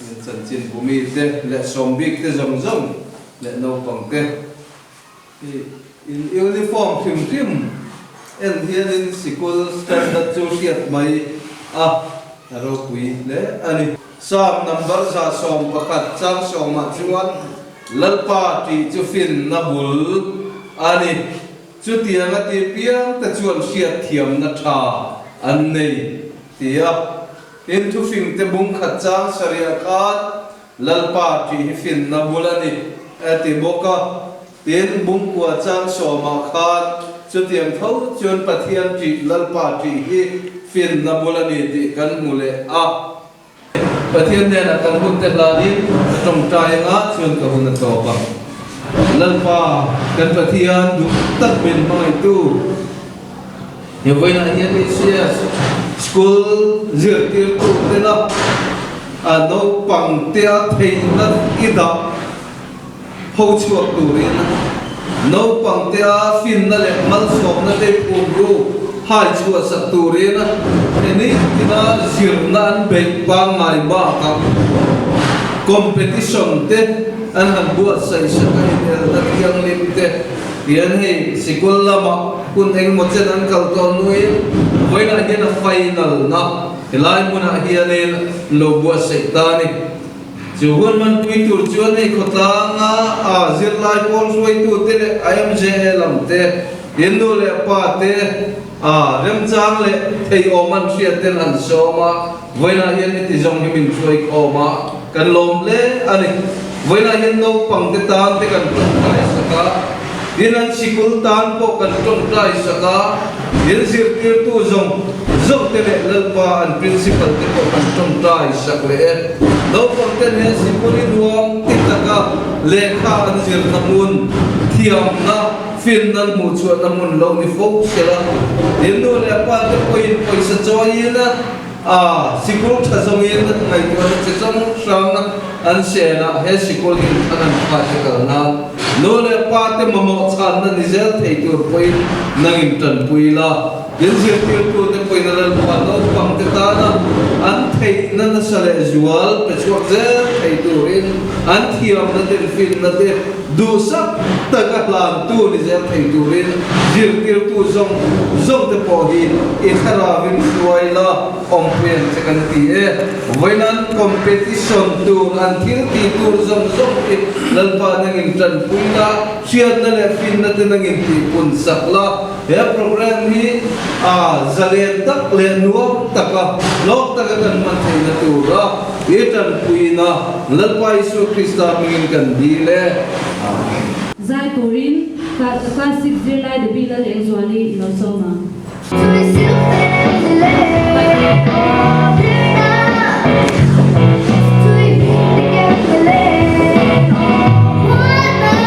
Min chanchin pu mi te leh sawm bik te zawng zawng leh naupang te hi in uniform hrim hrim en hian in sikul standard chu hriat mai a a ropui hle a ni. Psalm number za sawm pakhat chang sawm ah chuan Lalpa tih chu fin na bul a ni. Chutiang a ti piang te chuan hriat thiam na tha an nei tia. Heng thufingte bung khat chang sarih a at Lalpa ṭih hi finna bul a ni, a ti bawk a. Tin, bung kua chang sawmah khan chutiang tho chuan Pathian ṭih, Lalpa ṭih hi finna bul a ni tih kan hmu leh a. Pathian hnenah kan hun te hlain a ṭawngṭai anga chuan ka hun a tlawp a. Lalpa, kan Pathian duh tak min hmangaihtu. Hevoina hian Ichias School zirtirtu tena naupangtea theihna i dah ho chhuak turin naupangtea finna leh malsawmna te phumru hai chhuahsak turin Eneitina zirna an beih pangngai bakah competition te an han buatsaihsak a inelna thianghlim te Fian hi sikul lama hun engemaw chen an kal tawh nuin vawilah hian a fai nalhna helai hmunah hianin lo buatsaih ta a ni. Chu hun hmantui tur chuan hei khawtlanga a zirlai pawl hruaitute leh a MJA lamte, in nu leh pa te, a remchang leh theiawm an hriatte'n an sawm a. Vawilah hian i ti zawng hi min hruai khawm a, kan lawm hle a ni. Vawilah hian naupang te tan te kan ṭawngṭai sak a, tin an sikul tan pawh kan ṭawngṭai sak a, tin zirtirtu zawng zawng te leh Lalpa an Principal te pawh kan ṭawngṭai sak leh e. Naupang ten hian sikul i nuam ti tak a, lehkha an zirna hmun, thiamna, finna an hmuhchhuahna hmun lo ni fo sela, inu leh pa te pawhin pawisa chawiin a, A, sikul tha zawngin ngaihtuahna chi zawng hrang an siain ah he sikul hi tha ngan phah che kal na nu leh pa te mamawh chhanna ni zel thei tur pawhin nang in tan pui ila din zirtirtu te pawhin a lan phuan naupang te tan ah an theihna nasa leh zual pe chhuak zel thei turin an thiamna te an fimna te Duhsak tak a tlantu ni zel thei turin zirtirtu zawng zawng te pawh hi i thlarau in hruai la awmpui ang che kan ti e. Vawinan competition tur an thil ti tur zawng zawng hi lalpa nangin tanpuina, hriatna leh finna te nangin tihpunsak la, He program hi a zalen tak leh nuam taka nawk taka kan hman theihna tura i tanpuiin a Lalpa Isua Krista mingin kan dil e. Amen. Zai turin Class Six zirlai Debbie Lal Eng Zuan i lo sawm a.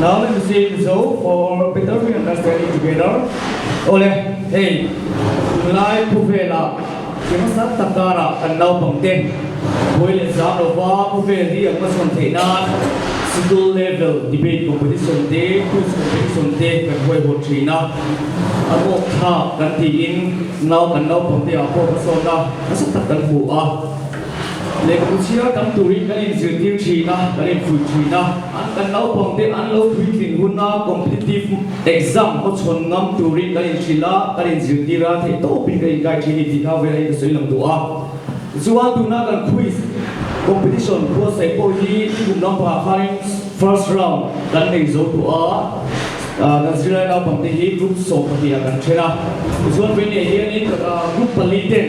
Now let us see the show for better we understand it together. Ole, hei, tunlai thu vela tlema sang tak kara kan naupang te Bawi leh Sang lova thu vel hi an hmasawn theih nan School level debate competition te, quiz competition te kan huaihawt thin a, a rawk thlak kan tiin nau kan naupang te ah pawh hmasawnna nasa tak kan hmu a. Lehkut sira tam turin kan inzirtir thin a, kan infulh thin a. An kan naupangte an lo puitling hun a, competitive exam hawchhawn ngam turin kan inhrilh a, kan inzirtir a, theih tawh bik a inkai thin a ni tih kha velahin ka sawi lang duh a. Zual tuna kan quiz competition khuasaih pawh hi i kum lampangah khanin first round kan nei zo duh a, kan zirlai naupangte hi group sawmpahnih ah kan then a. Zual vei neiah hianin group pali ten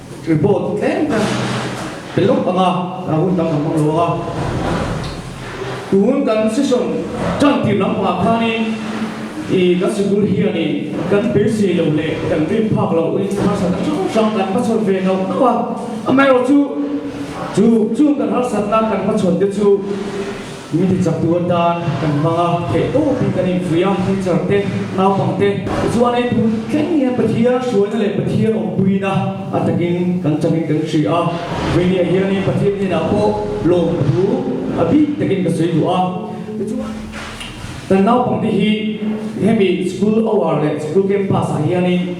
Report tlem kha pe lawk ang a, a hun tam ang hmang lo a. Tun kan session tan tir lampang ah khanin i kan sikul hianin kan pe si lo leh kan rin phak loh in harsat a hrang hrang kan hmachhawn ve nauh nauh a. Amaherawhchu chu chung kan harsatna kan hmachhawn te chu. Ni ti chaktu atan kan hmang a, theih tawh tih kan infuih a, teacher te, naupang te. Tichuan hei tun thleng hian Pathian hruaina leh Pathian awmpuina a takin kan changin kan hria a. Hmei ni ah hianin Pathian hnenah pawh lawmthu a bik takin ka sawi duh a. Tichuan, kan naupang te hi hemi school hour leh school campus ah hianin.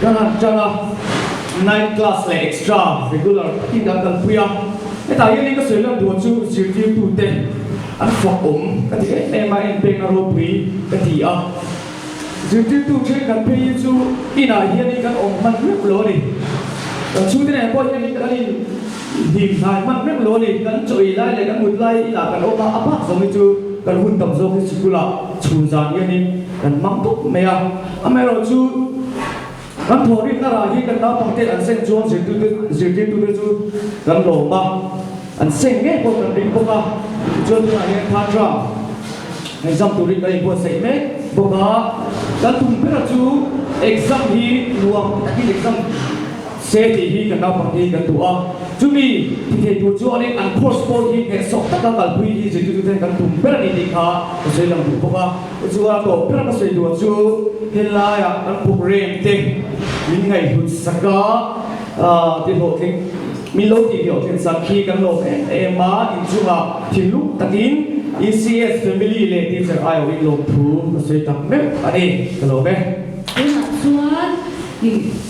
Ka rak chang a, night class leh extra regular tiin dah kan pui a, hetah hianin ka sawi lak duh chu zirtirtu te an fuak awm ka ti em em a, en pekna ropui ka ti a, zirtirtu then kan pheiin chu inah hianin kan awm hman meuh lo a ni, kan chhungte nen pawh hianin kan in. Hnim hnai hman reng lo ni, kan chaw ih lai leh kan mut lai ila kan awm a, a bak zawng hi chu kan hun tam zawk hi sikul ah chhun zan hian in kan hmang dup mai a, amaherawh chu kan thaw rih na rah hi kan naupang te an seng chuan zirtirtu zirtirtu te chu kan lawm a, an seng ngei pawh kan ring bawk a, chuan tunah hian Khatra exam tur hi kan in buatsaih mek bawk a, kan tum bera chu exam hi nuam tak in exam. se tih hi kan naupang te hi kan duh a, chumi thithei tur chuangin an course pawh hi hnehsawh taka kalpui hi zirtirtu ten kan tum ber a nih tih kha ka sawi lang duh bawk a, chuan tawh ber ka sawi duh chu helaiah kan programme te min ngaihlut sak a, ah ti hlawhtling min lo tih hlawhtling sak khi kan lawm em em a, inchunga thinlung takin ECS family leh teacher aiawh in lawmthu ka sawi tak meuh a ni, ka lawm e. Tunah chuan.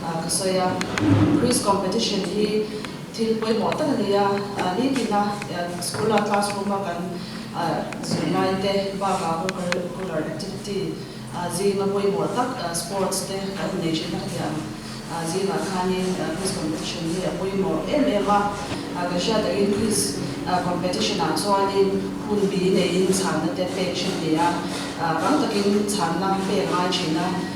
ka sawi a, Quiz competition hi thil pawimawh tak a ni a, nitin a school a classroom a kan zui lai te baka co-curricular activity zinga pawimawh tak sports te kan nei thin a hetiang zingah khanin quiz competition hi a pawimawh em em a, kan hriat dahin quiz competition ah chuanin hun bi neiin chhanna te pek thin ni a, tam takin chhanna pek a ngai thin a.